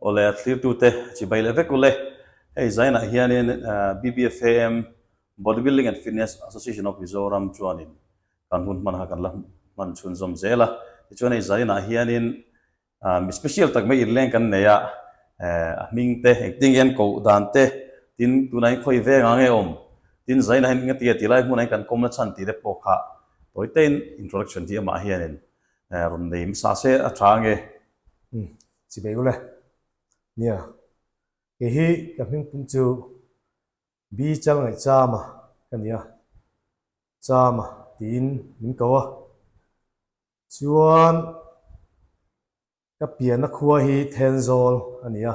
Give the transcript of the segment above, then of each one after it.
Awle a thlirtute chi bai leh vek ule. Hei zainah hianin BBFAM, Bodybuilding and Fitness Association of Mizoram, chuanin kan hun hmanah kan la hman chhun zawm zel a. Tichuan hei zainah hianin mi special tak mai inleng kan nei a, a hming te engtin nge an koh dan te, tin tunah hian khawi ve anga nge awm, tin zainah hian engnge tia tilai hmunah hian kan kawm la chhan tih te pawh kha tawitein introduction hi amah hianin rawn nei hmasa se a tha ange. Chi beih u le. Nia. Kei hi ka hming pum chu Bichal ngaih Chama ka nia. Chama tiin min ko a. Chuan ka piana khua hi Thenzawl a nia.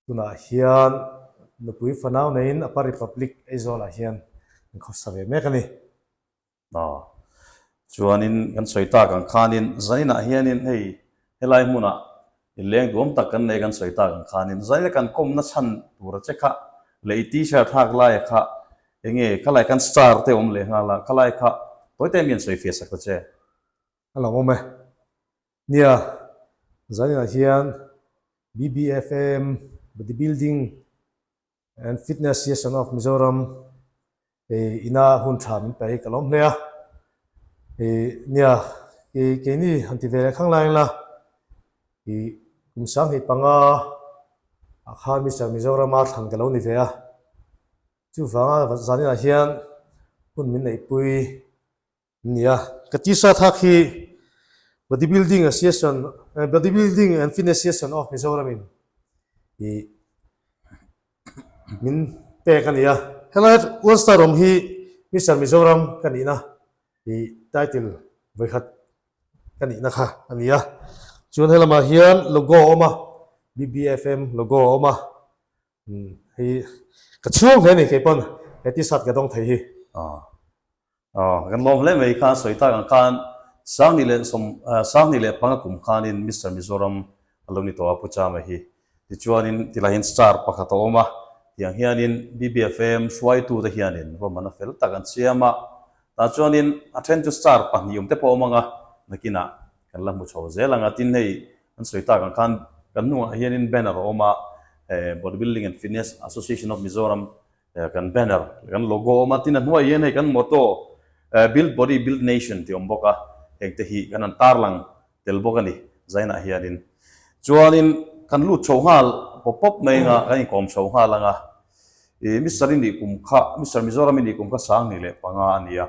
Tunah hian nupui fanau neiin a pa Republic Aizawlah hian an khawsa ve mek a ni. Aw. Chuanin kan sawi tak ang khanin zainah hianin hei helai hmunah inleng duam tak kan nei kan sawi tak ang khanin zaina kan kawmna chhan tura che kha leh i t-shirt hak laia kha enge khalai kan star te awm leh nghal a khalai kha tawite mian sawi fiahsak ta che. A lo awm e. Nia, zaninah hian BBFAM, Bodybuilding and Fitness Association of Mizoram, he ina hun tha min pe hi ka lawm hle a. He nia, he keini han ti ve leh khang lai la, he kum sanghnih panga Akha Mister Mizoram a thlan ka lo ni ve a. Chuvanga zaninah hian hun min neihpui Nia, ka ti sa thak hi Bodybuilding Association, Bodybuilding and Fitness Association of Mizoram in i min pek a nia. Helai One Star Rom hi Mister Mizoram ka nihna i title vawikhat ka nihna kha a nia. Chuan he lamah hian logo a awm a, BBFM logo a awm a. Umm hei hi ka chhung hle ani keipawn he t-shirt ka dawng thei hi. Aw aw kan lawm hle mai khan sawi tak ang khan Sangni leh sawm Sangni leh panga kum khanin Mister Mizoram a lo ni tawh a Pucha mai hi. Tichuanin tilaiin star pakhat a awm a tiang hianin BBFAM hruaitute hianin ruahmana fel tak an siam a. Tah chuanin a then chu star pahnih awmte pawh a awm ang a nakinah kan la hmu chho zel ang a tin hei Kan sawi tak ang khan kan hnungah hianin banner a awm a, Bodybuilding and Fitness Association of Mizoram kan banner leh kan logo a awm a, tin a hnuaiah hian hei kan motto Build Body, Build Nation tih a awm bawk a, hengte hi kan han tarlang tel bawk a ni Zainah hianin. Chuanin kan lut chho nghal pawp pawp mai anga kan inkawm chho nghal anga, Mister i nih kum kha, Mister Mizoram i nih kum kha Sangni leh panga a ni a,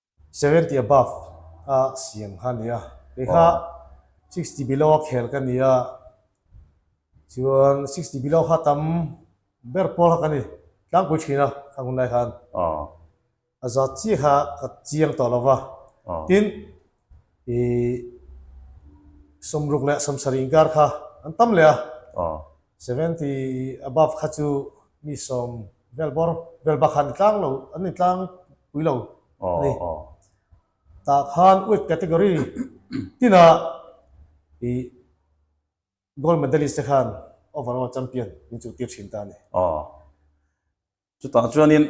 Seventy above a siam kha nia kei kha sixty below a khel ka nia chuan sixty below kha tam ber pawl kha ka ni tlangpui thin a khang hun lai khan a za chiah kha ka chiang tawh lova tin i sawmruk leh sawmsari inkar kha an tam leh a Seventy above kha chu mi sawm vel bawr vel bakhan tlang lo an ni tlang pui lo a ni. Tah khan wet category tinah i gold medalist te khan overall champion min chu tir thin ta a ni. Chutah chuanin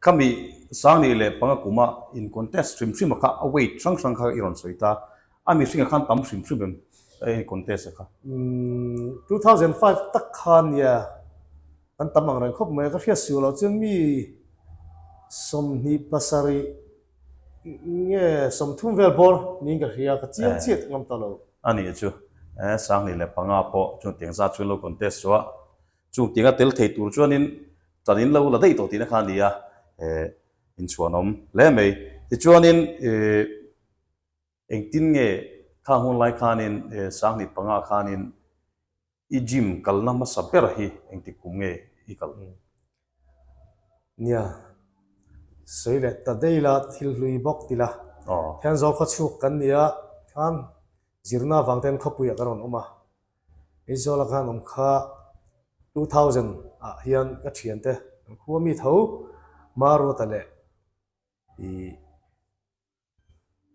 khami sang nih leh panga kuma in contest hrim hrima kha a weight hrang hrang kha i rawn sawi ta. A mihringa khan tam hrim hrim em e i contest a kha. Two thousand five tak kha a nia, an tam angreng khawp mai a. Ka hriat suh loh chuan mi sawmhnih pasarih nge sawmthum vel bawr niin ka hria, ka chiang chiat ngam ta lo. A nih chu, e sang nih leh panga pawh chutiang zat chu an lo contest suah. Chung tinga tel thei tur chuanin chanin lo la daih tawh tihna kha a ni a, inchhuanawm hle mai. Tichuanin engtin nge thla hun lai khanin sanghnih panga khanin i gym kalna hmasa berah hi engtik kum nge i kal? Nia, sawi leh ta daih ila thil hlui bawk ti la, hian zawng khawchhuk kan nia, kham zirna avangte hian khawpuiah kan rawn awm a. Aizawl a kan awm kha two thousand ah hian ka thian te kan khua mi tho Maruata leh ih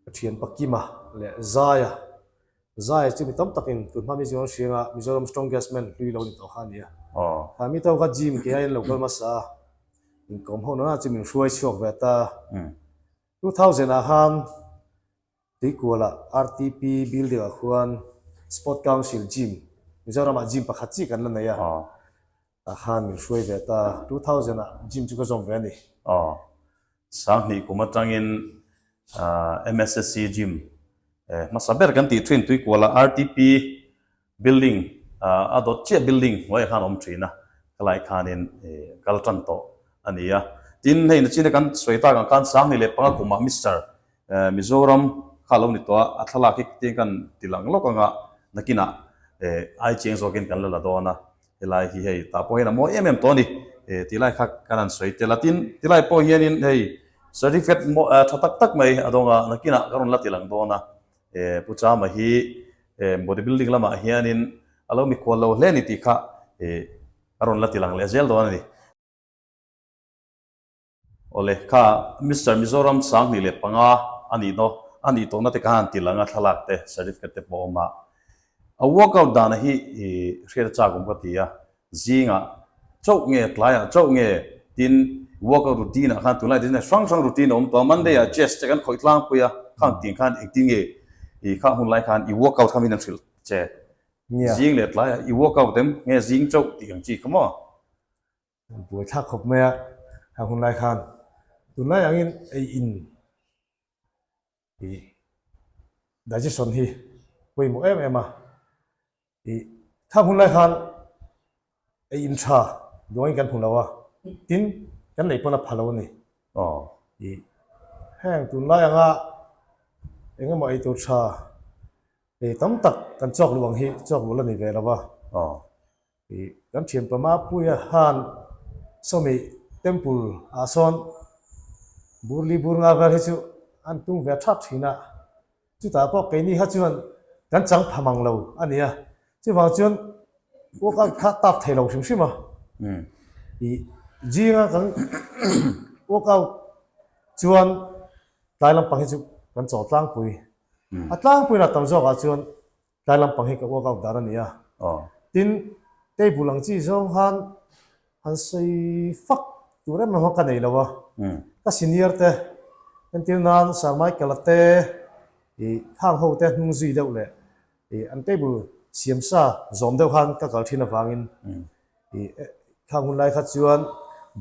ka thian pa Kima leh Zaya Zaya chu mi tam tak in tun hma mi zing an hriang a Mizoram strongest man hlui lo ni tawh kha nia kha mi tho kha gym ke hian lo kal hmasa a inkawm ho nana chu min hruai chhuak ve ta two thousand ah khan Tuikuala RTP building ah khuan Sport Council gym, Mizoram ah gym pakhat chi kan la nei a, tah khan min hruai ve ta. Two thousand ah gym chu ka zawm ve a ni. Aw. Sanghnih kum atangin MSSC gym, e hmasa ber kan tih thin Tuikuala RTP. Building a dawt chiah building hnuaiah khan a awm thin a, helai khanin i kal tan tawh a ni a. Tin, hei na china kan sawi tak ang khan sang ni leh panga kumah Mister Mizoram kha a lo ni tawh a, a thlalak hi khitiang kan ti lang lawk anga nakinah ai chiang zawkin kan la la dawn a, helai hi hei tah pawh hian a mawi em em tawh a ni tih lai kha kan han sawi tel a. Tin, ti lai pawh hianin hei certificate tha tak tak mai a dawng a, nakinah ka rawn la ti lang dawn a. Eh, Pu Chama hi eh, body building lamah hianin a lo mi kual lo hle a ni tih kha eh, a rawn la ti lang leh zel dawn a ni. Awle, kha Mister Mizoram sanghnih leh panga a ni daw a nih tawhna te khan ti langa thlalak te, certificate te pawh a awm a. A walk out danah hi eh, hriat a chak awm ka ti a. Zingah chauh nge, tlaiah chauh nge tin workout routine-ah khan tunlai te hian hrang hrang routine a awm tawh a. Monday-ah chest te kan khawih tlangpui a, khang tin khan engtin nge i khang hun lai khan i workout kha min rawn hrilh che. Zing leh tlaiah i workout em nge zing chauh tih kan chi kha maw? Kan buaithlak khawp mai a, khang hun lai khan tunlai angin ei in. Ih, digestion hi pawimawh em em a, ih, thla hun lai khan ei in tha duangin kan hmu lo a, tin kan nei pawn a pha lo a ni. Aw. Ih, heng tunlai anga eng emaw ei tur tha ei tam tak kan chawk luh ang hi chawk luh la ni ve lo va. Aw. Ih kan thianpama puia han Sawmi temple ah sawn bur li bur nga vel hi chu an tung ve thap thin a, chutah pawh keini kha chuan kan chang pham ang lo a nia, chuvang chuan walk out kha tap thei lo hrim hrim a, ih zinga kan walk out chuan tlai lampang hi chu kan chaw tlangpui, a tlangpuiin a tam zawkah chuan Tlai lampang hi ka work out dar a ni a. Tin, table ang chi zawng khan han sawi fak tur em emaw ka nei lo a. Ka senior te, entir nan Sir Michael-a te, Thang ho te hnung zui deuh leh an table siam sa zawm deuh khan ka kal thin avangin ih thlang hun lai kha chuan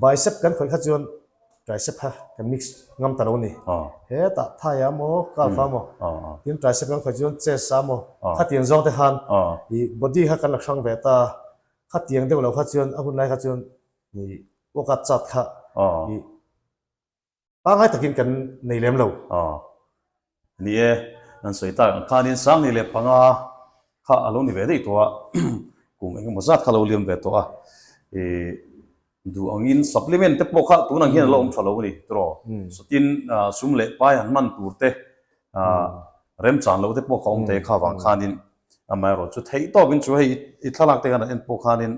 bicep kan khawih kha chuan tricep kha kan mix ngam ta lo ni heta thai a maw calf a maw tin tricep kan khawih chuan chest a maw khatiang zawng te khan ih body kha kan la hrang ve ta khatiang deuh lo kha chuan a hun lai kha chuan ih workout chart kha ih pangngai takin kan nei lem lo. Aw. Ni e, nan sawi tak ang khanin Sangni leh panga kha a lo ni ve daih tawh a, kum eng emaw zat kha a lo liam ve tawh a, i duh angin supplement te pawh kha tunah hian a lo awm tha lo a ni. Tiraw? Satin sum leh pai han hman tur te, remchan lo te pawh kha awm ta e kha vang khanin amaherawhchu theih tawkin chu hei i thlalak te hian a en pawh khanin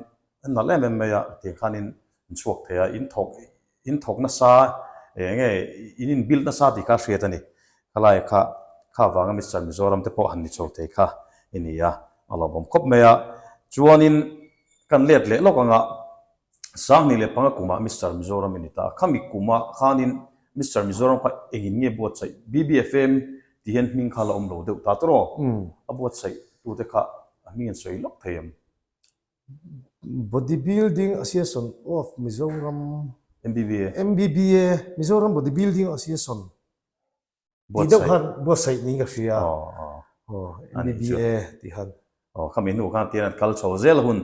a nalh em em mai a, tiang khanin an chhuak thei a, in thawk In thawk nasa eng nge in inbuild nasa tih kha a hriat a ni. Khalaia kha kha vanga Mister Mizoram te pawh han ni chho thei kha i ni a, a lo awm khawp mai a. Chuanin kan let leh lawk anga Sanghnih leh panga kumah Mister Mizoram i ni ta a. Khami kumah khanin Mister Mizoram kha engin nge buatsaih? BBFM tih hian hming kha la awm lo deuh ta tur aw, a buatsaih tute kha a hming en sawi lawk thei em? Body Building Association of Mizoram, MBBA, MBBA, Mizoram Body Building Association tih deuh khan buatsaih niin ka hria. MBBA tih khan. Aw, kha minhnu khan tian an kal chho zel hun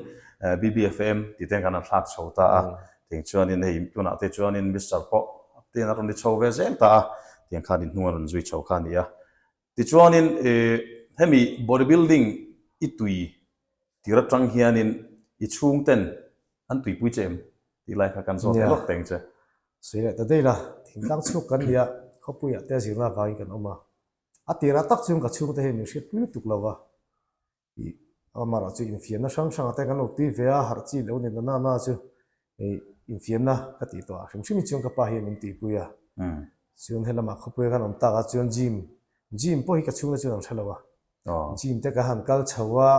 BBFM tih te khan an thlak chho ta a. Tiang chuanin hei tunah te chuanin Mister pawh tian a rawn ni chho ve zel ta a. Tiang khan inhnung a rawn zui chho kha a ni a. Tichuanin hemi body building i tui tir atang hianin i chhungten an tuipui che em? Tih lai kha kan zawt hle lawk teng che. Sawi leh ta daih la, thingtlang chhuk kan nia, khawpuiah te a zirna avangin kan awm a, a tirah tak chuan ka chhungte hi min hriat pui lutuk lo a, Ih, a marah chu infiamna hrang hrang te kan rawn tui ve a, harh chi lo nena na na chu ih infiamna ka tih tawh a hrim hrim hi chuan ka pa hi a min tih pui a, chuan he lamah khawpui a kan awm tak a chuan gym gym pawh hi ka chhungna chuan an hre lo a, gym te ka han kal chho a,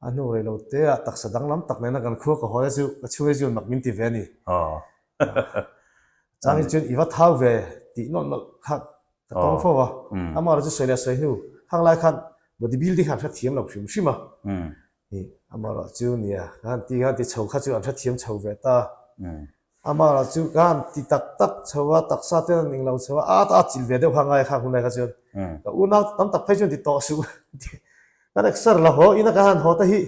a hnu rei lo te ah taksa dang lam tak nena kan khua ka hawi a chu ka chhunga hi chuan mak min ti ve a ni, chang hi chuan i va thau ve tih nawlh nawlh kha Ka tawng fo va, amah rawh chu sawi leh sawi hnu hang lai khan body building kha an hrethiam lo hrim hrim a. Ni, amah rawh chu nia ka han ti, ka han ti chho kha chu an hrethiam chho ve ta. Amah rawh chu ka han ti tak tak chho a, taksa ten an ning lo chho a, a chilh ve deuh kha ngai kha hunai kha chuan ka unau tam tak phei chuan ti tawh suh, ka nek ser la haw ina ka han haw ta hi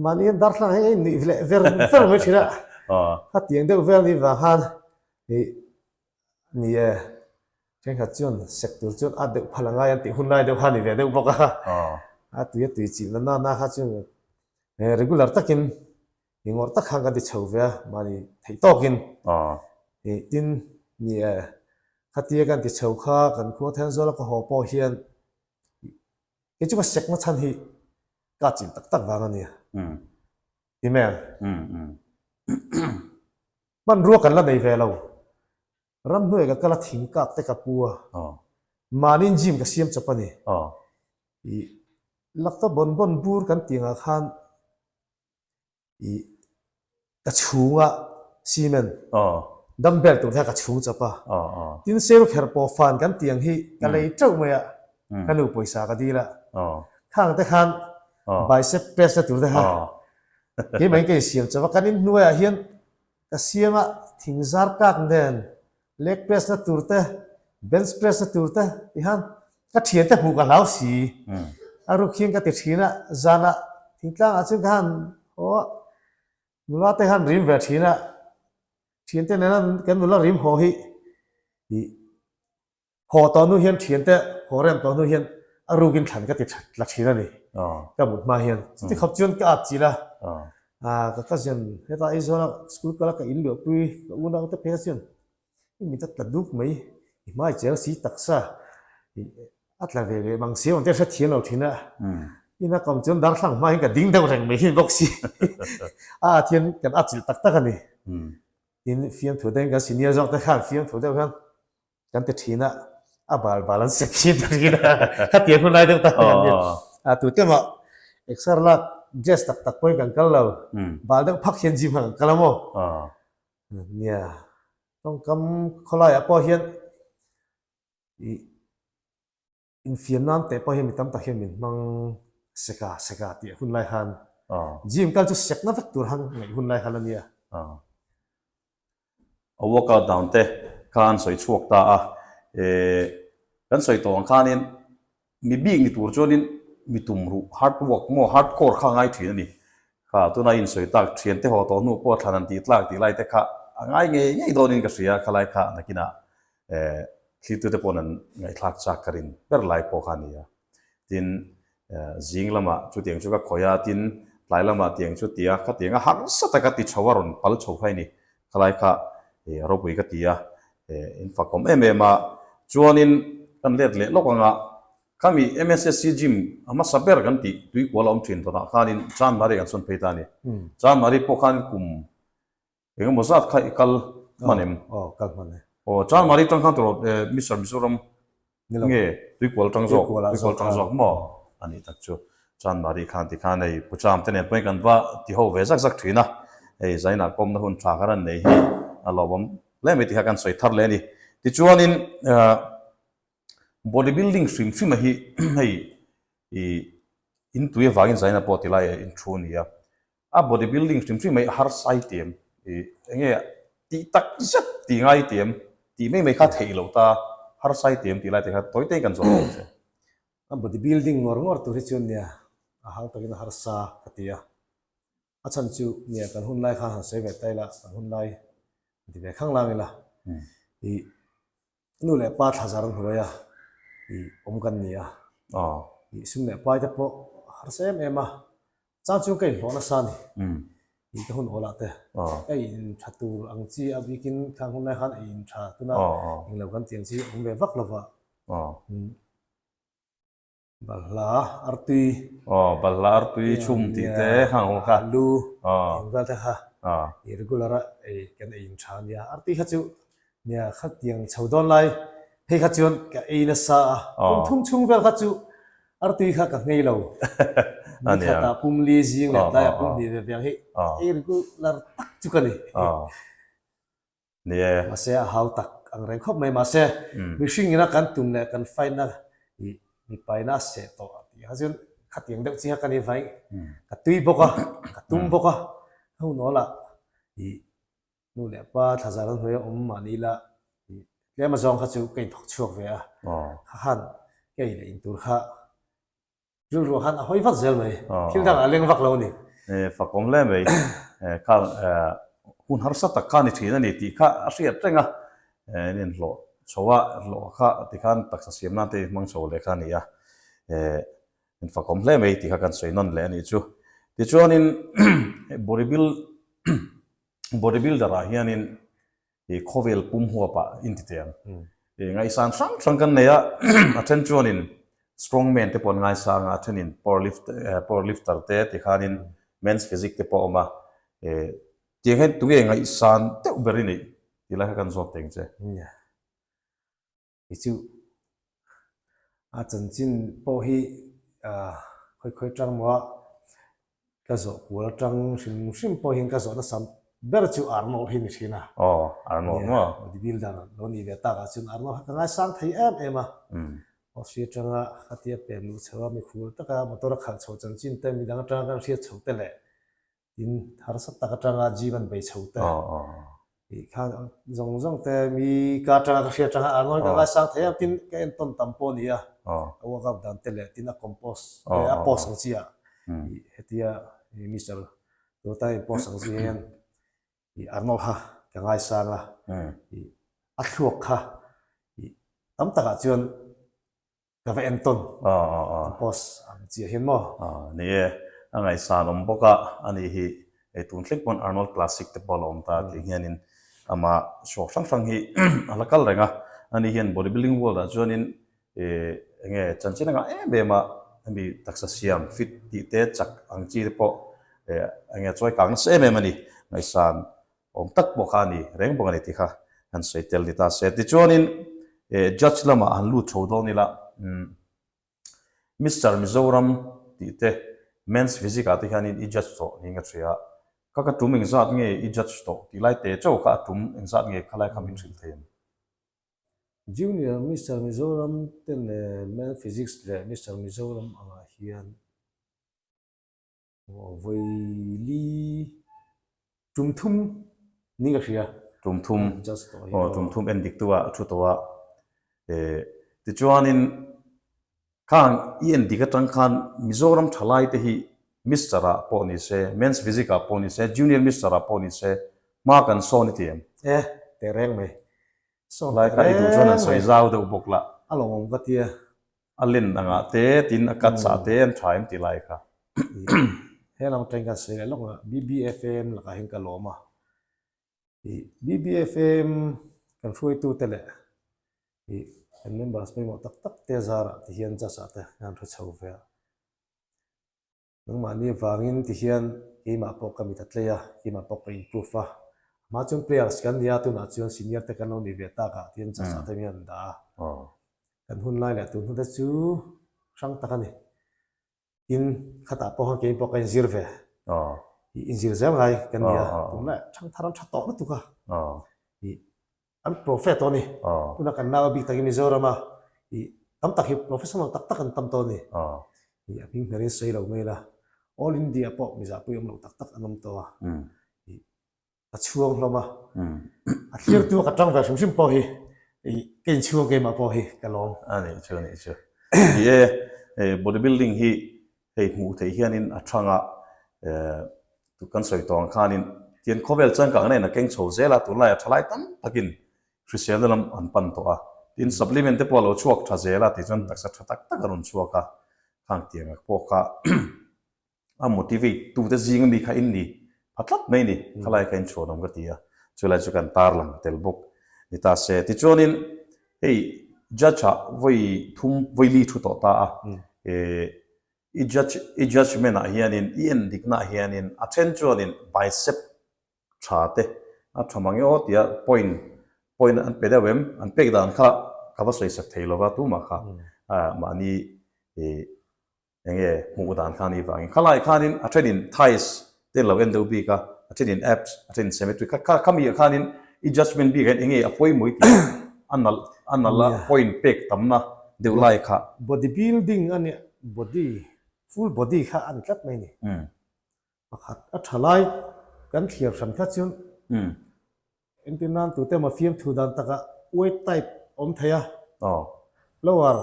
Mahni an darthlalang hi ngei nuih leh ver fer mai thin a, a tiang deuh vel ni vang khan ni ni e, thenkhat chuan sek tur chuan a deuh phala ngai an tih hun lai deuh kha ni ve deuh bawk a, a tuia tui chilh na nana kha chuan regular takin ni ngawrh tak khan kan ti chho ve a, mahni theih tawkin ni tin ni e, khatia kan ti chho kha kan khuathaianzuala ka haw pawh hian Kei chu ka sekna chhan hi ka chilh tak tak vang a nia. Email. Hmanrua kan la nei ve lo. Ramhnuai ka kal a thing kak te ka pu a. Mahni gym ka siam chawp a ni. Laktaw bawn bawn bur kan tih ang ah khan ih ka chhunga cement dumbbell tur hian ka chhung chap a, tin sel kher pawh fan kan ti ang hi ka lei teuh mai a, ka nu pawisa ka dil a, khang te khan bicep press na tur te kha keimahin ka insiam chauh a, kan in hnuaiah hian Ka siama thing zar kak nen leg press na tur te, bench press na tur te ti han ka thian te hmuh ka hlau si. A rukhing ka ti thin a, zan a thing tlang ah chin ka han haw a, nula te han rim ve thin a, thian te nen a kan nula rim haw hi tih. Haw tawh hnu hian thiante haw rem tawh hnu hian a rukin thlan ka ti la thin a ni. Ka mut hma hian chuti khawp chuan ka at chilh a, ka cousin heta Aizawla school kala ka inluahpui ka u naute phei kha chuan i min ta tla duk mai, i hmai cheng si taksa, a tla ve leh mang si awm te a hrethiam lo thin a, i na kawm chuan darthlalang hma hian ka ding deuh reng mai thin bawk si. A at hian kan at chilh tak tak a ni. Tin fiamthu deng kan senior zawk te khan fiamthu deuh hian Kan ti thin a, a bal bal an sek thin ta thin a, khatiang hun lai deuh ta ang an ni. Tu te mah exer lak jazz tak tak pawhin kan kal lo, bal deuh phak hian gym ah kan kal a maw? An nia. Tawngkam khawlaiah pawh hian ih. Infiam nan teh pawh hian mi tam tak hian min hmang sek a, sek a tih a hun lai han. Gym kal chu sekna vek tur han ngaih hun lai han a nia. A workout dan te khan sawi chhuak ta a, kan sawi tawh ang khanin mi bik ni tur chuanin mi tumruh hard work maw hard core kha a ngai thin a ni. Kha tuna in sawi tak thiante haw tawh hnu pawh thlan an tih tlak tih lai te kha a ngai ngei ngei dawnin ka hria khalai kha a nakinah Eh, thli tute pawhin an ngaihthlak chak ka rin ber lai pawh kha a ni a. Tin, eh, zing lamah chutiang chu ka khawih a, tin, tlai lamah tiang chu ti a, khatiang a harsa taka ti chho a, rawn pal chho phei a ni. Khalai kha, eh, Ropui ka ti a, eh, in fakawm em em a. Chuanin kan let leh lawk anga, khami MSSC gym a hmasa ber kan tih tui kual a awm thin tawnah khanin January kan sawn phei ta a ni. January pawh khan kum Eng emaw zat kha i kal hman em? Aw, kal hman e. Aw, chuan Mari tang khan tawrh Mister Mizoram nge tuikual tang zawk, tuikual tang zawk maw? A nih tak chu. Chuan Mari khan tikhan hei Pucham te nen pawhin kan va ti ho ve zak zak thin a, hei Zaina kawmna hun tha kha ran nei hi a lo awm hle mai tih kha kan sawi thar leh a ni. Tichuanin body building hrim hrim a hi hei, i intuia vangin Zaina pawh tilai a in thu a nia. A body building hrim hrim mai a harsai ti em? Ih, enge tih tak zet ti ngai ti em? Tih mai mai kha theih lo ta, harsai ti em tih lai te kha tawi taiin kan zawm lo che. A body building ngawr ngawr tur hi chuan nia a hau takin a harsa ka ti a. A chhan chu nia kan hun lai khan han sawi ve ta ila, kan hun lai a ti ve khang lang ila. Ih. Nu leh pa thla zar hnuaia ih awm kan ni a. Aww. Ih Sim leh Pai te pawh a harsa em em a. Chang chu ka inhlawh nasa a ni. Umm. Ih ka hun awl ah te. Aww. Ka in tha tur ang chi a bik in thleng hun lai khan i in tha tun a. Aww aww. Englo kan ti ang chi a awm ve vak lo va. Aww. Umm. Balhla artui. Aw, balhla artui chhung tih te kha ang kha. Lu engzal te kha irregular a ei kan ei in tha a nia. Artui kha chu nia khatiang chho dawn lai. Hei kha chuan ka ei nasa a. Pawn thum chhung vel kha chu artui kha ka ngei lo. Ni khat a pum li zing leh tlai a pum hnih ve viang hi irregular tak chu ka ni. ni e. Mahse a hau tak ang reng khawp mai mahse mihring ina kan tum leh kan fight na hi mipa ina a seh tawh a tih kha chuan khatiang deuh chi kha ka ni vaih ka tui bawk a ka tum bawk a ho nawla hi nu leh pa thlazar an hawi a awm mah ni ila hi tlem azawng kha chu ka inthawk chhuak ve a kha khan kei leh in tur kha Rilru khan a hawi vak zel mai. Thil dangah a leng vak lo a ni. E, fakawng hle mai. Khan hun harsa tak khan i chhin a ni tih kha a hriat reng a. E, an inhlawh chho a, hlawh kha ti khan taksa siam nan te i hmang chho leh kha a ni a. E, an fakawng hle mai tih kha kan sawi nawn leh a nih chu. Tichuanin, hei bodybuilder-ah hianin. He khawvel pum huapa intite ang. He ngaisan hrang hrang kan nei a, a then chuanin strong man te pawn ngaisanga a thenin power lift power lifter te tikhanin men's physique te pawh a awm a, he tiang hian tunge ngaisan deuh ber i nih? Ti lai kha kan zawk teng che. Ni chu a chanchin pawh hi khawi khawi tang maw a, ka zawh kual atang hrim hrim pawh hian ka zawh nasa ber chu ar maw hi ni thin a. Aw ar maw maw. Bodybuilder lo nih ve takah chuan ar maw hi ka ngaisang thei em em a. Office atanga khatia pem luh chho a mikhur taka motor a khalh chho chanchin te midang atanga kan hriat chhote leh tin harsat tak atanga gym an bei chho te tih khan zawng zawng te mi ka atanga ka hria atanga arnawi ka ngai sang thei a tin ka en tawn tam pawh a ni a ka workout dan te leh tin a compose a post ang chi a hetia Mister Tawltai in post ang chi hian arnawi kha ka ngai sang a a thluak kha tam takah chuan Ka va en tawn. Ka post ang chiah hian maw? Ni e. A ngaihsan awm bawk a, a nih hi. Eitur thleng pawn Arnold Classic te pawh a la awm ta tih hianin amah chhuak hrang hrang hi a la kal reng a. A nih hian bodybuilding world ah chuanin eng nge chanchin anga em em a hemi taksa siam fit tih te chak ang chi te pawh eng nge chawi kang nasa em em a ni. Ngaihsan Awm tak pawh kha a ni, reng bawk a ni ti kha kan sawi tel ni ta se. Tichuanin eh judge lamah han lut tho dawn ila umm Mister Mizoram tih te Men's Physic ah te hianin i judge tawh ni nga ṭhia, kha ka ṭum engzat nge i judge tawh tih lai te chauh kha a ṭum engzat nge kha lai kha min hrilh thei a ni. Junior Mister Mizoram te leh Men's Physics leh Mister Mizoram angah hian. Aw vaili tum thum ni ka hria. Tum thum. Just tawh hi lo. Aw tum thum en dik tua a thu tawh a. Eh tichuanin khang i en dik atang khan Mizoram thalai te hi Mister ah pawh ni se, Men's Physique ah pawh ni se, Junior Mister ah pawh ni se hma kan saw ni ti em? Eh teh reng mai. Saw teh reng. Lai kha i duh chuan an sawi zau deuh bawk la. A lawmawm ka tia. A len angah te tin a cut sa te an tha em ti lai kha. Hello atang hian ka sawi leh lawk a, BBFAM lakah hian ka lawm a. I BBFAM kan hruaitu te leh i kan members pawimawh tak tak te zarah ti hian judge ah te hian an hre chho ve a. Nangmahni avangin ti hian keimah pawh ka mit a tlei a, keimah pawh ka improve a. Amah chuan players kan nia, tunah chuan senior te kan lo ni ve takah ti hian judge aṭangin a rawn dah a. Kan hun lai leh tun hnu te chu hrang tak a ni. Tin, khatah pawh khan kein pawh ka inzir ve. I inzir zel ngai kan nia, tum leh ṭhang thar an ṭha tawh lutuk a. An prophet tawh a ni. Tunah kan nau a bik tak hi Mizoram a ih tam tak hi professional tak tak an tam tawh a ni. Ih a hming hmel in sawi lo mai la, All India pawh mizahpui awm lo tak tak an awm tawh a. Ih ka chhuang hlawm a, a thlertu a ka tang ve hrim hrim pawh hi ih ka inchhuang keimah pawh hi ka lawm. A nih chu, a nih chu. Ih e, hei bodybuilding hi Hei hmuh theih hianin a chhang a, tut kan sawi tawng ang khanin Tian khawvel changkang nen a keng chho zel a, tunlai a thalai tam takin hriselna lam an pan tawh a, tin supplement te pawh a lo chhuak tha zel a tih chuan taksa tha tak tak a rawn chhuak a, khang tianga pawh kha a motivate tute zing ami kha in ni pha tlat mai ni, khalaia kha in chhuanawm ka ti a, chulai chu kan tarlang tel bawk, ni ta se. Tichuanin Hei judge ah vawi thum vawi li thu tawh ta a, i judge i judgement ah hianin i en dik na'ah hianin a then chuanin bicep tha te a tha mang emaw tia point point an pe deuh em? An pek dan kha ka va sawisat thei lova tumah kha mahni Eng nge hmuh dan khan i vangin khalai khanin a thenin tiles te an lo en deuh bik a, a thenin apps, a thenin cemetery kha kha khami ah khanin i judgement bik ah hian eng nge a pawi mawi tih a nalh a nalh a point pek tam na deuh lai kha. Body building a nih body full body kha a ni tlat mai ni. Pakhat a tha lai kan thlir hran kha chu engtin nan tute emaw fiamthu dan takah weight type awm theih a lower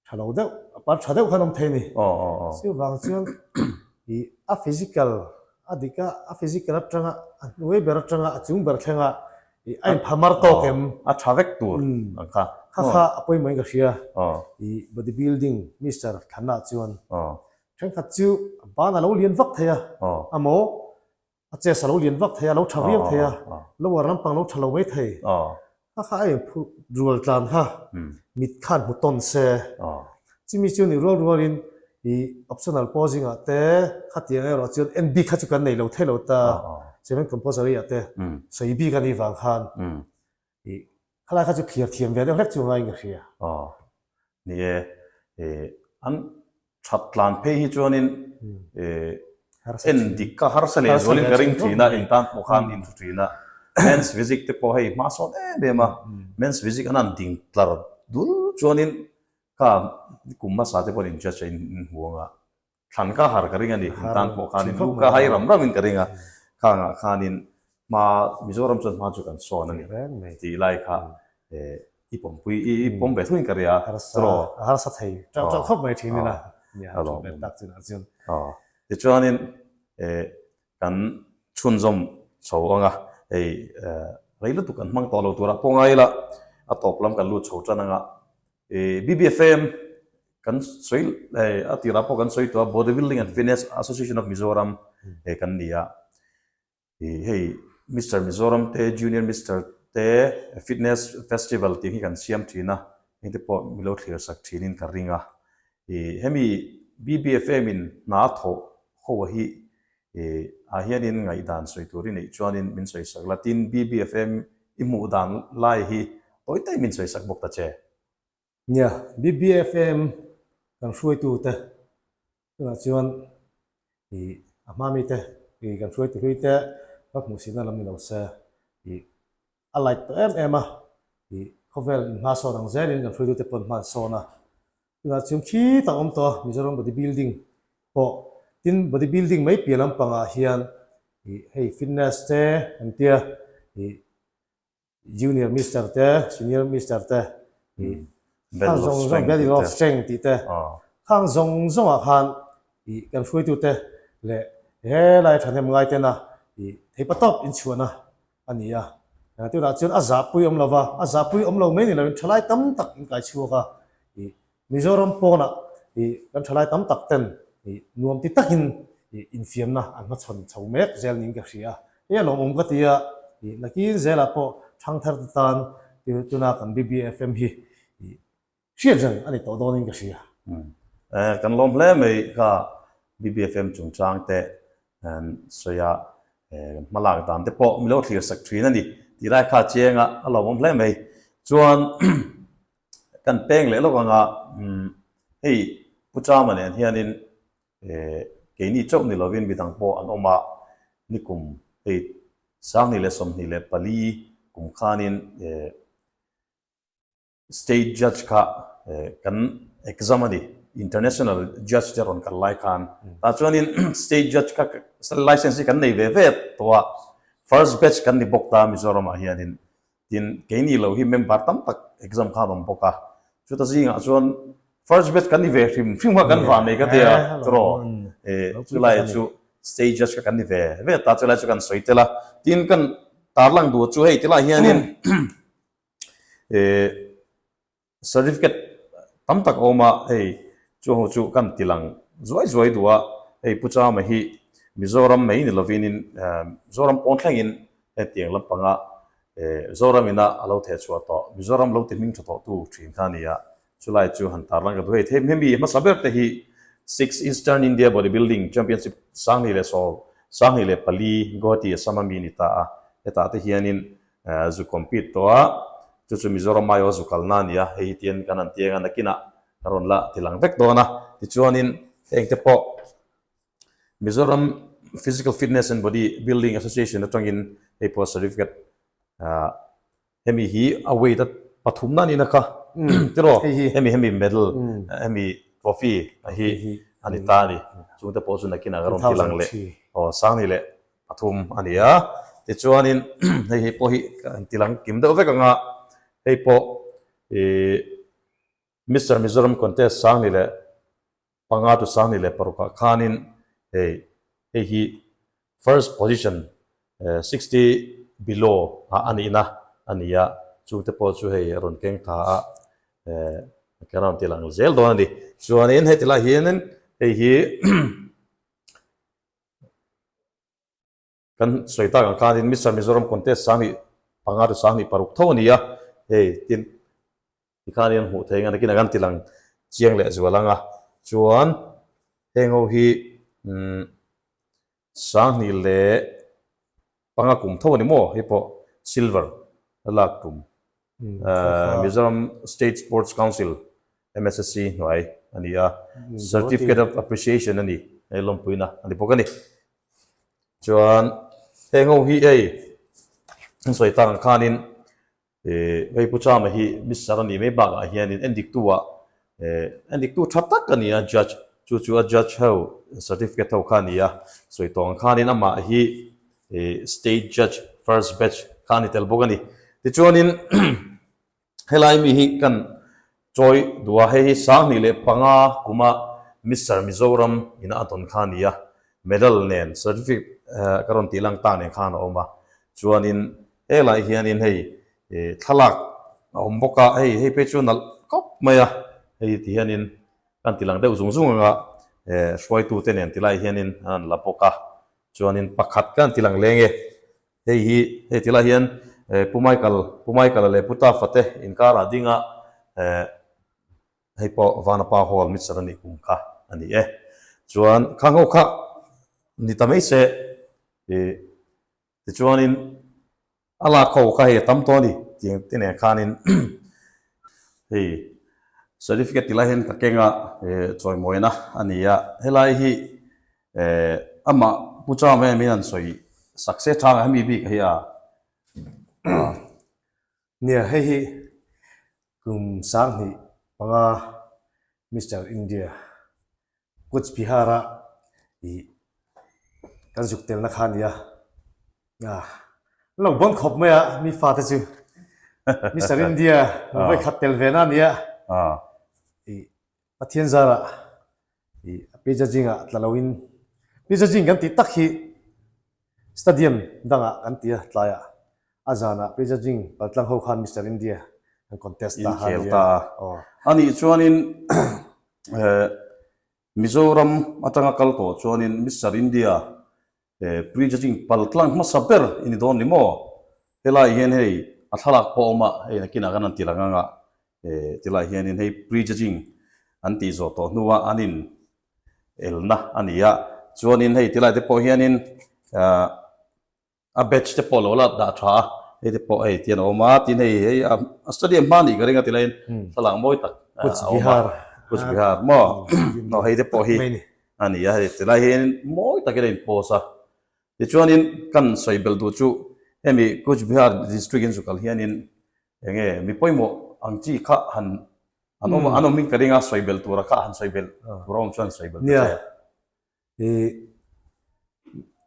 Tha lo deuh, a par tha deuh khan awm thei a ni. Chu vang chuan i a physical a dik a, a physical atanga, a hnuai ber atanga, a chung ber thlenga i a inphah mar tawk em? A tha vek tur ang kha. Kha kha a pawimawhin ka hria. I body building Mister Thlana chuan, Thenkhat chu a ban a lo lian vak thei a, a maw? A chase a lo lian vak thei a, a lo tha viau thei a, lower lampang a lo tha lo mai thei. Kha kha a in phurh rual tlan kha, mit khan hmu tawn se. Chumi chu ni rual rual in i optional pausing ah te, khatiang erawh ah chuan NB kha chu kan nei lo thei lo ta, Seventh Composer-iah te sawi bik a nih vang khan. I. Khalaia kha chu thlir thiam ve deuh hlek chu anga inga hria. A. Ni e. E. An that tlan phei hi chuanin e. En dik kha harsa leh zualin ka ring thin a, intan pawh khan in thu thin a. Men's Physics te pawh hei hmahsawn em em a. Men's Physics an han ding tlar dul chuanin ka kum hmasa te pawh an in judge a, in hmu anga Thlan kha har ka ring a ni, in tan pawh khanin lu kha hai ram ram in ka ring a, khangah khanin hma Mizoram chuan hma chu kan sawn a ni tih lai kha i pawm pui i pawm ve thuin ka ria chulaw a harsa thei teuh teuh khawp mai thin in a nia a thut let tak chin ah chuan tichuanin kan chhunzawm chho ang a hei rei lutuk an hmang tawh lo tur a pawngai ila a tawp lam kan lut chho tan ang a I BBFM kan sawi a tirah pawh kan sawi tawh a, Body Building and Fitness Association of Mizoram he kan ni a. I hei Mister Mizoram te, Junior Mister te Fitness Festival tih hi kan siam thin a, heng te pawh mi lo thlir sak thinin ka ring a. I hemi BBFM in hna a thawh ho hi I ah hianin ngaihdan sawi tur i neih chuanin min sawi sak la, tin BBFM i hmuh dan lai hi tawi tawi min sawi sak bawk ta che. Nia, BBFM kan hruaitute tunah chuan i a hma mite i kan hruaiti hluite ka hmuhsirna lam ni lo se i A like tawh em em a i khawvel inhmasawn ang zel in kan hruaitu te pawn hman sawn a. Tunah chuan khi tak awm tawh a Mizoram body building pawh tin body building mai piah lam pangah hian i hei fitness te kan tia i junior Mister te senior Mister te i khang zawng zawng battle of strength tih te khang zawng zawng ah khan i kan hruaitu te leh he lai thahnem ngai tena i thei patawp inchhuahna A ni a, eng tunah chuan a zahpui awm lova, a zahpui awm lo mai ni loin thalai tam tak in kai chhuak a, ih, Mizoram pawnah ih kan thalai tam tak ten ih nuam ti takin ih infiamna an hma chhawn chho mek zel niin ka hria, hei a lawmawm ka ti a, ih, nakin zelah pawh thangthar te tan tuna kan BBFM hi ih Hriat zel a ni tawh dawnin ka hri a. Eh, kan lawm hle mai kha. BBFM chungchang te an sawi a, eh, kan hma lak dan te pawh mi lo thlir sak thin a ni tih lai kha chiang a, a lawmawm hle mai. Chuan kan peng leh lawk ang a, umm, hei Pu Chama nen hianin, eh, keini chauh ni lovin mi dang pawh an awm a, ni kum hei sanghnih leh sawmhnih leh pali kum khanin, eh, State judge kha kan exam a ni, international judge te rawn kal lai khan tah chuanin state judge kha license hi kan nei ve ve tawh a, first batch kan ni bawk ta Mizoramah hianin. Tin keini lo hi member tam tak exam kha an awm bawk a, chuta zingah chuan first batch kan ni ve hrim hrim kha kan vah mai ka tia tiraw, chu lai chu state judge kha kan ni ve ve ta chu lai chu kan sawi tel a. Tin kan tarlang duh chu hei ti lai hianin Certificate tam tak a awm a, hei chu ho chu kan ti lang zuai zuai duh a, hei Pu Chama hi Mizoram mai ni lovin in Mizoram pawn thleng in hetiang lampang a Zoram in a alo theh chhuah tawh, Mizoram lo ti hming tha tawh tu thin kha a ni a, chu lai chu han tarlang ka duh a, hei hemi hmasa ber te hi Six Eastern India Bodybuilding Championship Sanghnih leh Sawm, Sanghnih leh Pali, Guwahati Assam a mi a ni ta a, hetah te hian in Zu compete tawh a, chu chu Mizoram aiawh zu kalna a ni a, hei hi ti hian kan han ti eng a, nakinah ka rawn la ti lang vek dawn a, tichuanin heng te pawh Mizoram Physical Fitness and Body Building Association atangin hei pawh certificate ah hemi hi a weight a pathumna a nina kha tiraw hemi hemi medal hemi trophy hi a ni ta a ni, chungte pawh chu nakinah ka rawn ti lang leh aw sang ni leh. Pathum a ni a, tichuanin hei hi pawh hi ka han tih lang kim deuh vek ang a, hei pawh ih Mister Mizoram contest sang ni leh panga tu sang ni leh parukah khanin hei hei hi first position sixty below a nihna a ni a, chute pawh chu hei rawn keng tha a eh ka rawn tih lang zel dawn a ni. Chuanin heti lai hianin hei hi Kan sawi tak ang khanin Mister Mizoram contest sang hi panga te sang hi paruk tho a ni a, hei tin ti khan hian hmuh theih ang a, nakin a kan ti lang chiang leh zual ang a. Chuan heng ho hi umm Sanghnih leh. Panga kum tho a ni maw? Hei pawh silver a lak tum Mizoram State Sports Council, MSSC, hnuai a ni a, Certificate of Appreciation a ni, hei lawmpuina a ni bawk a ni. Chuan heng ho hi hei an sawi tan khanin E, hei Pu Chama hi Mister a nih mai bakah hianin en diktua, e, en diktu tha tak a ni a, Judge, chu chu a Judge ho Certificate ho kha a ni a, sawi tawh ang khanin amah hi, e, State Judge First Batch kha a ni tel bawk a ni. Tichuanin, helai mi hi kan, Chawi dua hei hi sang hnih leh panga kuma Mister Mizoram ina a tawn kha a ni a, medal nen, certificate, ka rawn tihlang tak nen khan a awm a, chuanin helai hianin hei thlalak a awm bawk a, hei hei phei chu nalh khawp mai a, hei ti hianin kan tilang deuh zung zung anga hruaitute nen tilai hianin an la bawk a, chuanin pakhat kan tilang leng e, Hei hi, hei ti lah hian Pu Michael, Pu Michael leh Pu Tafa te inkar ah ding a, hei pawh Vana pa hawl mitsan a nih kum kha a ni e. Chuan khang ho kha ni ta mai se, tichuanin a lak ho kha hei a tam tawh a ni tih te nen khanin hei certificate ti lah hian ka kenga chawimawina a ni a, helai hi Eh, amah Pu Cham em in an sawi sak se chang a, hemi bik hi a. Nia, hei hi kum sanghnih panga Mister India, Cooch Bihar-a i kan zuk telna kha a ni a. Ah, an lo bawn khawp mai a mi fate chu Mister India hmuh vawi khat tel ve na nia i Pathian zara i Pi Jajing ah tla loin Pi Jajing kan tih tak hi Stadium dang ah kan ti a, tlai ah a zan ah Pi Jajing paltlang ho khan Mister India kan contest ta kha ni a. A nih chuan in Mizoram atanga kal tawh chuan in Mister India He prejudging pal tlang hmasa ber i ni dawn ni maw? Helai hian hei a thlalak pawh a awm a, hei nakinah khan an ti rang ang a, ti lai hianin hei prejudging an tih zawh tawh hnua an in elna a ni a, chuanin hei ti lai te pawh hianin a batch te pawh lo la dah tha a, hei te pawh hei tian a awm a, tin hei hei a study a hma a nih ka ring a ti laiin thlalak mawi tak a awm a, Kuch Bihar maw? Hei te pawh hi a ni a, hei ti lai hian mawi takin a inpost a. Tichuanin kan sawi bel tur chu hemi Cooch Behar District in zukal hianin eng nge mi pawimawh ang chi kha han an awm an awmin ka ring a, sawi bel tura kha han sawi bel tur a awm chuan sawi bel ta che. I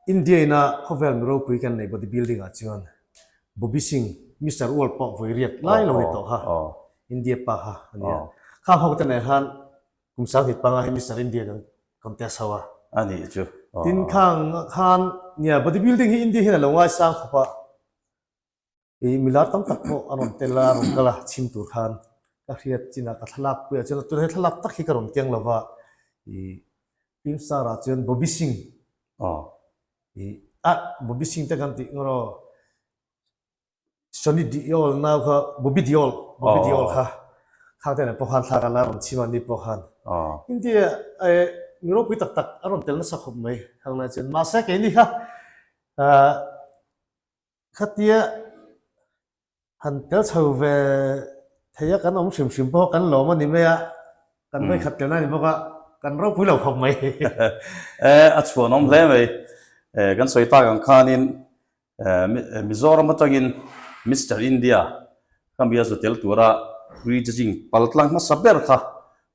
India ina khawvel mi ropui kan nei body building ah chuan Bobby Singh, Mister World pawh vawi riat ngai lo ni tawh kha India pa kha a ni a. Kha ho te nen han Kum sang thit panga hi Mister India in an compare chho a. A nih chu. Tin khang ah khan nia body building hi India hian a lo ngaisang khawp a. Kei milar tam tak pawh a rawn tel a, a rawn kal a chhim tur khan. Ka hriat chin ah ka thlalak pui ah chuan tun he thlalak tak hi ka rawn keng lova i film star ah chuan Bobby Singh i a Bobby Singh te kan tih ngawh rawh. Sony Deol nau kha Bobby Deol, Bobby Deol kha thlang te nen pawh khan thlak ala rawn chhim a ni pawh khan India eh mi ropui tak tak a rawn tel nasa khawp mai hang lai chuan mahse kei ni kha khatia han tel chho ve thei a kan awm hrim hrim pawh kan lawm a ni mai a kan vei khat tel na ni bawk a kan ropui lo khawp mai eh a chhuanawm hle mai eh kan sawi tak ang khanin Eh, Mizoram atangin Mister India ka mi a za tel tura tui chi zing pal tlang hmasa ber kha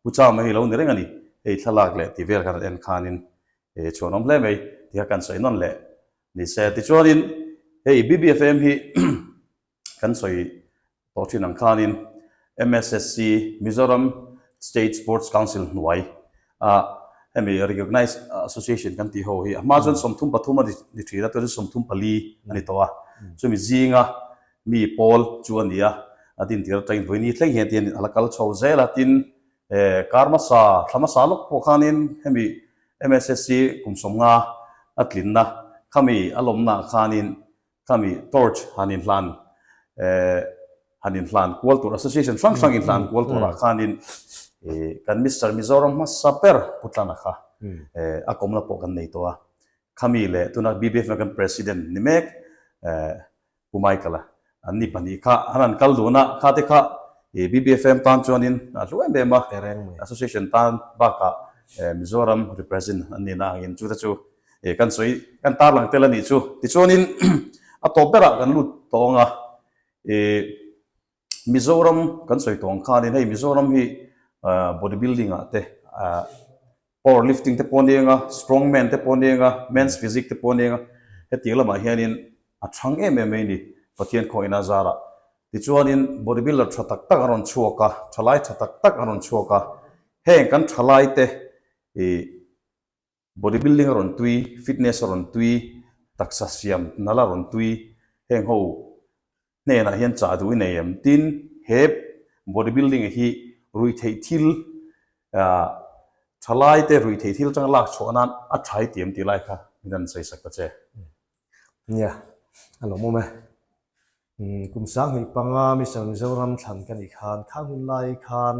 Pucham a hi lo ni reng a ni. Hei thlalak leh ti vel kan rawn en khanin eh chhuanawm hle mai ti kha kan sawi nawn leh ni se. Tichuanin hei BBFM hi kan sawi tawh thin ang khanin MSSC Mizoram State Sports Council hnuai a hemi recognized association kan tih ho hi a hma chuan sawmthum pathum a ni thin a tuan chu sawmthum pali a ni tawh a chumi zinga mi pawl chu a ni a a din tir atangin vawiini thleng hian tihin ala kal chho zel a tin kar hmasa thla hmasa lawk pawh khanin hemi MSSC kum sawmnga a tlinna khami a lawmnaah khanin Thami torch han inhlan han inhlan kual tur association hrang hrang inhlan kual tur ah khan in kan Mister Mizoram hmasa ber putlan a kha a kawm la pawh kan nei tawh a khami leh tuna BBF na kan president ni mek Pu Michael a an ni pahnih kha an han kal dun a kha te kha BBFM tan chuan in a hlu em em a association tan bak ah Mizoram represent an ni na ang in chu te chu E, kan sawi kan tarlang tel a nih chu. Tichuanin a tawp berah kan lut tawh ang a, e, Mizoram kan sawi tawh ang khanin hei Mizoram hi bodybuilding ah te, a, power lifting te pawh a ni ang a, strong man te pawh a ni ang a, men's physique te pawh a ni ang a, hetiang lamah hianin a chhang em em mai a ni Pathian khaw ina zara. Tichuanin bodybuilder tha tak tak an rawn chhuak a, thalai tha tak tak an rawn chhuak a, heng kan thalai te, e, Body building a rawn tui, fitness a rawn tui, taksa siam nal a rawn tui, heng ho hnenah hian chah duh i nei em? Tin, he body building hi ruih theih thil ah thalai te ruih theih thil atanga lak chhuah nan a thai ti em tih lai kha min rawn sawisak ta che. Nia, a lawm awm e. Kum sang hnih panga Mizo Mizoram thlan ka nih khan khang hun lai khan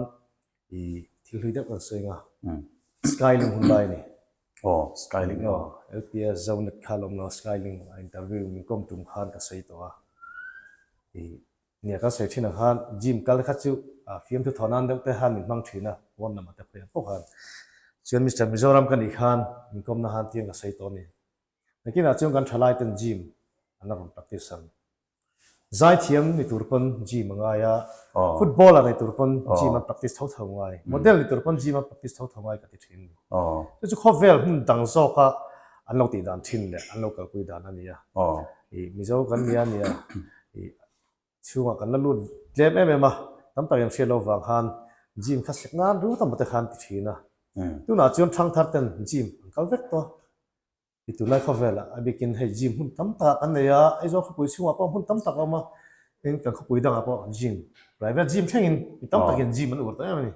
i thil hlui deuh kan sawi anga Sky Ling hun lai a ni. Aw Sky Ling aw. LPS Zonet kha lawm lo Sky Ling a interview min kawm tum khan ka sawi tawh a i nia kan sawi thin ang khan Jim kal kha chu a fiam thu thaw nan deuh te khan min hmang thin a phone number te pawh a pawh khan chuan Mister Mizoram ka nih khan min kawm na han tiang ka sawi tawh a ni. Nakinah chuan kan thalai ten gym an la rawn practice an. Zai thiam ni tur pawn gym a ngai a, footballer ni tur pawn gym an practice tho tho ngai, model ni tur pawn gym an practice tho tho ngai ka ti thin a ni. Chu chu khawvel hmun dang zawka an lo tih dan thin leh an lo kalpui dan a ni a. I Mizo kan nia nia i. Chhungah kan la lut tlem em em a, tam tak inhriat lo vang khan gym kha sek nan ru tamawt te khan ti thin a. Tunah chuan thangthar ten gym an kal vek tawh a. I tun lai khawvelah a bikin hei gym hmun tam takah kan nei a, Aizawl khawpui chhungah pawh hmun tam tak a awm a, tin kan khawpui dangah pawh gym, private gym thlengin mi tam takin gym an ur ta em a ni.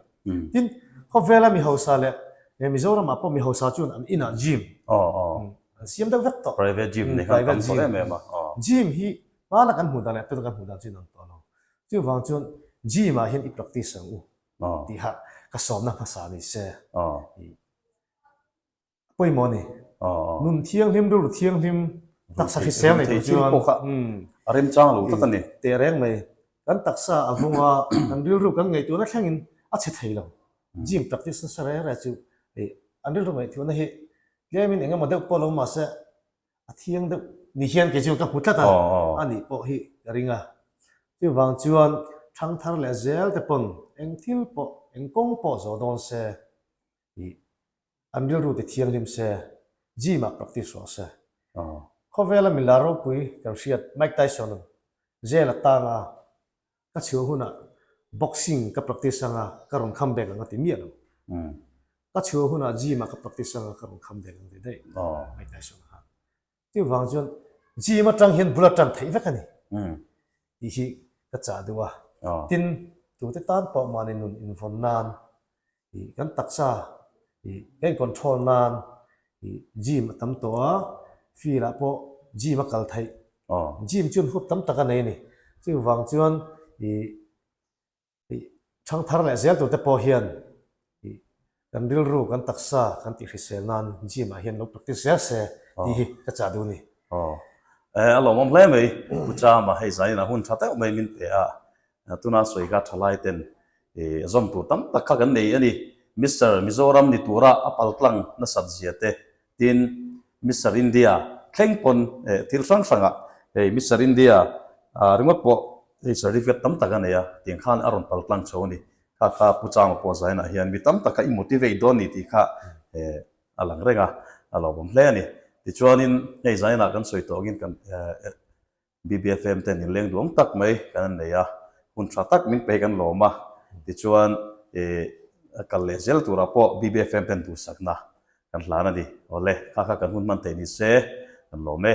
Tin, khawvela mi hausa leh Mizoramah pawh mi hausa chuan an inah gym an siam deuh vek tawh. Private gym. Gym hi Hmana kan hmuh dan leh tuna kan hmuh dan chu in ang tawh lo. Chu vang chuan gym ah hian i practice ang u tih hah ka sawmna hmasa ni se. Ih a pawimawh a ni. Nun thianghlim rilru thianghlim taksa hrisel nei tur chuan a remchang lo tak a ni. Teh reng mai. Kan taksa a vung a kan rilru kan ngaih tuna thleng in a chhe thei lo. Gym practice nasa reng reng chu ih an rilru ngaih tuna hi tlem in engemaw deuh pawh a lo awm mah se A thiang deuh ni hian kei chu ka hmu tlat a, a nih pawh hi ka ring a. Chuvang chuan thangthar leh zel te pawn eng thil pawh, eng kawng pawh zawh dawn se tih an rilru ti thianghlim se, gym-ah practice ruah se. Khawvela milar ropui kan hriat Mike Tyson-a zela tanga ka chhio hunah boxing ka practice anga ka rawn kham bek ang a ti miah lo. Ka chhio hunah gym-ah ka practice anga ka rawn kham bek ang a ti daih Mike Tyson kha. Chuvang chuan gym atang hian bula tan theih vek a ni tih hi ka chah duh a. Tin, tute tan pawh mahni nun invawn nan ih kan taksa ih kan incontrol nan ih gym a tam tawh a, field ah pawh gym a kal theih. Gym chuan hup tam tak a nei a ni. Chumi vang chuan ih ih chhang thar leh zel tur te pawh hian ih kan rilru kan taksa kan tih hrisel nan gym ah hian lo practice zel se tih hi ka chah duh a ni. Aw, eh a lawmawm hle mai. Pucha mah hei zain a hun tha teuh mai min pe a, Tuna sawi kha thalai ten zawm tur tam tak kha kan nei a ni. Mister Mizoram ni tura a pal tlang nasat zia te, tin Mister India thleng pawn thil hrang hrang ah hei Mister India ringawt pawh hei certificate tam tak a nei a, tiang khan a rawn pal tlang tho a ni. Kha kha Pu Chama pawh zain ah hian mi tam tak kha i motivate dawn ni tih kha a lang reng a, a lo awm hle a ni. Tichuan in hei zain ah kan sawi tawk in kan BBFM ten in leng duang tak mai kan an nei a, hun tha tak min pe kan lawm a, tichuan a kal leh zel turah pawh BBFM ten duhsakna kan hlan a ni. Awle, kha kha kan hun hman thei ni se, kan lawm e.